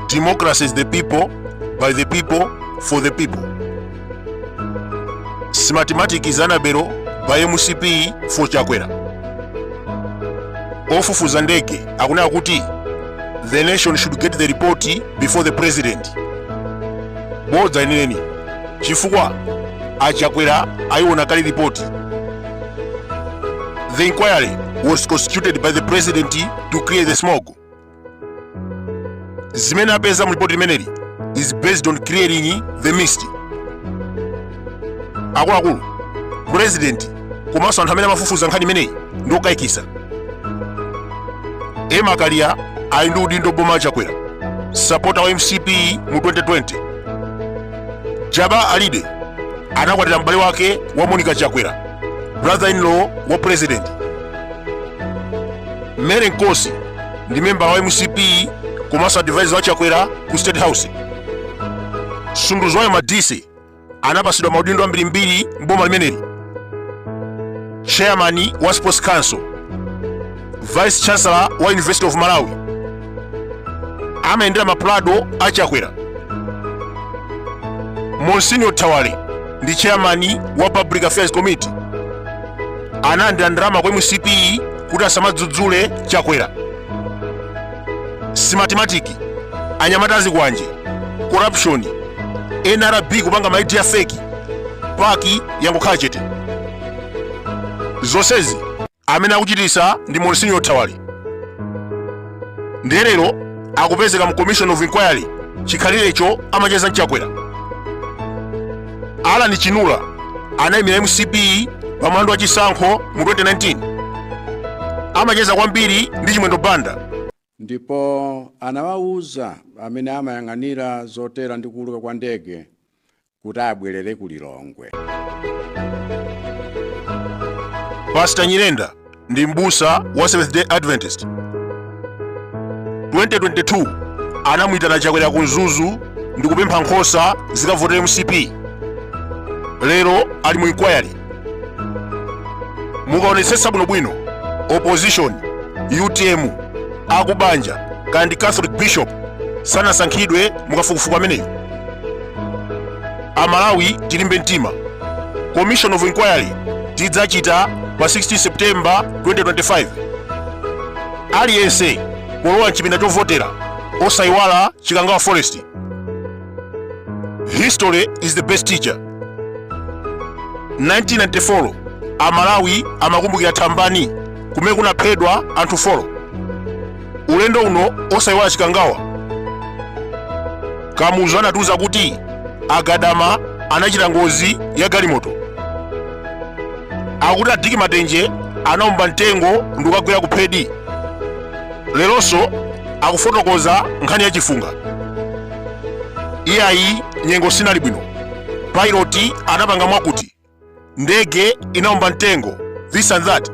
Democracy is the people, by the people, for the people. Smartmatic is Anabero, by MCP, for Chakwera. Ofufuza ndege akunena kuti the nation should get the report before the president. Bodza ineneni. chifukwa achakwera ayiona kale ripoti the inquiry was constituted by the president to clear the smoke zimene apeza mu ripoti limeneli is based on clearing the mist akuluakulu president komanso anthu amene amafufuza nkhani imeneyi ndi okayikisa emma kaliya ali ndi udindo m'boma la chakwera sapota wa mcp mu 2020 jabbar alide anakwatira m'bale wake wa monica chakwera brother in law wa president mary nkosi ndi member wa mcp komanso advisor wa chakwera ku state house sunduzwayo madise anapasidwa maudindo ambirimbiri mboma limeneli chairman wa sports council vice chancellor wa university of malawi amayendera mapulado a chakwera monsignor thawale ndi chairman wa public affairs committee analandira ndalama kwa mcp kuti asamadzudzule chakwera systematic anyamata azikwanje corruption nrb kupanga ma id a fake pac yangokhala chete zonsezi Amene akuchititsa ndi Monsignor Thawale ndiye lero akupezeka mu Commission of Inquiry chikhalirecho amacheza ndi Chakwera. Alan Chinula anayimira mcp pa mlandu wa chisankho mu 2019 amacheza kwambiri ndi Chimwendo Banda. Ndipo anawauza amene amayang'anira zotera ndi kuuluka kwa ndege kuti abwerere ku Lilongwe. Pastor Nyirenda ndi m'busa wa Seventh Day Adventist. 2022 anamuyitana Chakwera ku Mzuzu ndi kupempha nkhosa zikavotere mcp. Lero ali mu inquiry. mukaonetsetsa bwinobwino opposition utm akubanja kaya ndi catholic bishop sanasankhidwe mukafukufuku ameneyo amalawi tilimbe mtima commission of inquiry tidzachita pa 16 september 2025 aliyense polowa mchipinda chovotera osayiwala chikangawa forest history is the best teacher 1994 amalawi amakumbukira thambani kumene kunaphedwa anthu four ulendo uno osayiwala chikangawa kamuzu anatiuza kuti agadama anachita ngozi ya galimoto akuti a dick matenje anaomba mtengo ndikukagwera kuphedi leronso akufotokoza nkhani ya chifunga iyayi nyengo sinali bwino pilot anapanga mwakuti ndege inaomba mtengo this and that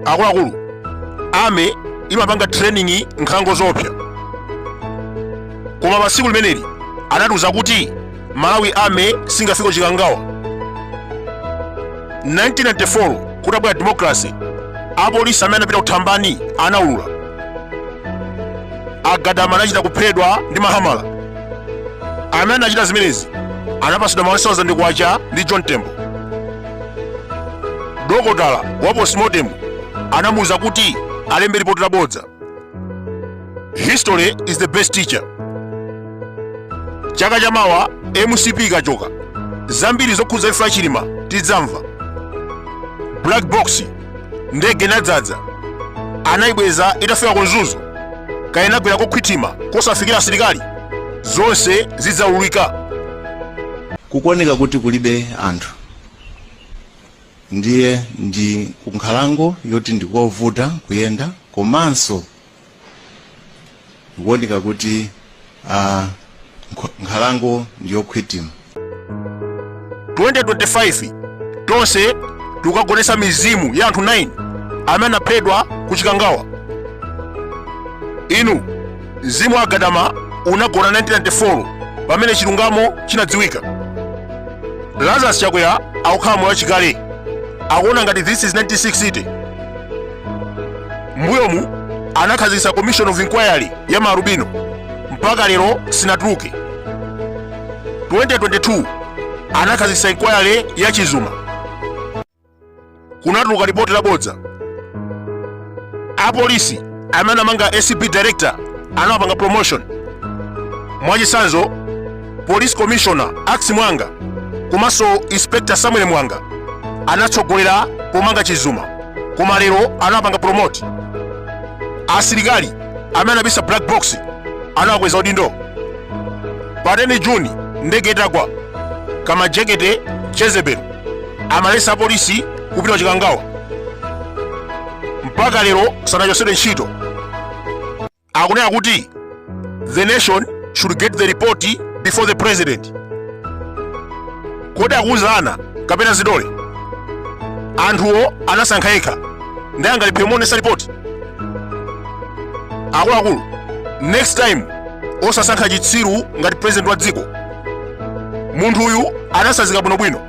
akuluakulu army imapanga training nkhalango zoopsa koma pa tsiku limeneli anatiuza kuti malawi army singafike chikangawa 1994 kutabwera democracy apolisi amene anapita kuthambani anaulula agadama anachita kuphedwa ndi mahamala amene anachita zimenezi anapasidwa ma 1000 kwacha ndi john tembo dokotala wa postmortem anamuwuza kuti alembe lipoti labodza history is the best teacher chaka chamawa mcp ikachoka zambiri zokhudza imfa ya chilima tidzamva black box ndege inadzadza anayibweza itafika ku mzuzu kaya inagwera kokhwithima kosafikira asilikali zonse zidzaululika kukuoneka kuti kulibe anthu ndiye ndi kunkhalango yoti ndikovuta kuyenda komanso ndikuoneka kuti uh, nkhalango ndiyokhwitima 2025 tonse tikagonetsa mizimu ya anthu 9 amene anaphedwa ku chikangawa inu Mzimu wa Gadama unagona 1994 pamene chilungamo chinadziwika. Lazarus Chakwera akukhala moyo wachikale akuona ngati this is 1960. Mbuyomu anakhazikitsa commission of inquiry ya maalubino mpaka lero sinatuluke. 2022 anakhazikitsa inquiry ya Chizuma. kunatuluka lipoti labodza apolisi amene anamanga acb director anawapanga promotion mwachisanzo police commissioner ackis muwanga komanso inspector samuel mwanga anatsogolera pomanga chizuma koma lero anawapanga promote asilikali amene anabisa black box anawakweza udindo pa 10 juni ndege itagwa kamajekete jezebel amalesa apolisi kupita kuchikangawa mpaka lero sanachosedwe ntchito akunena kuti the nation should get the report before the president kodi akuuza ana kapena zidole anthuwo anasankha yekha ndiye angalephere kumuonesa report akuluakulu next time osasankha chitsiru ngati president wa dziko munthu uyu anasanzika bwinobwino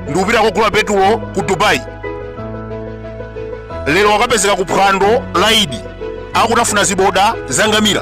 ndikupita kukagula petulo ku dubai lero wakapezeka ku phwando la idi akutafuna ziboda za ngamira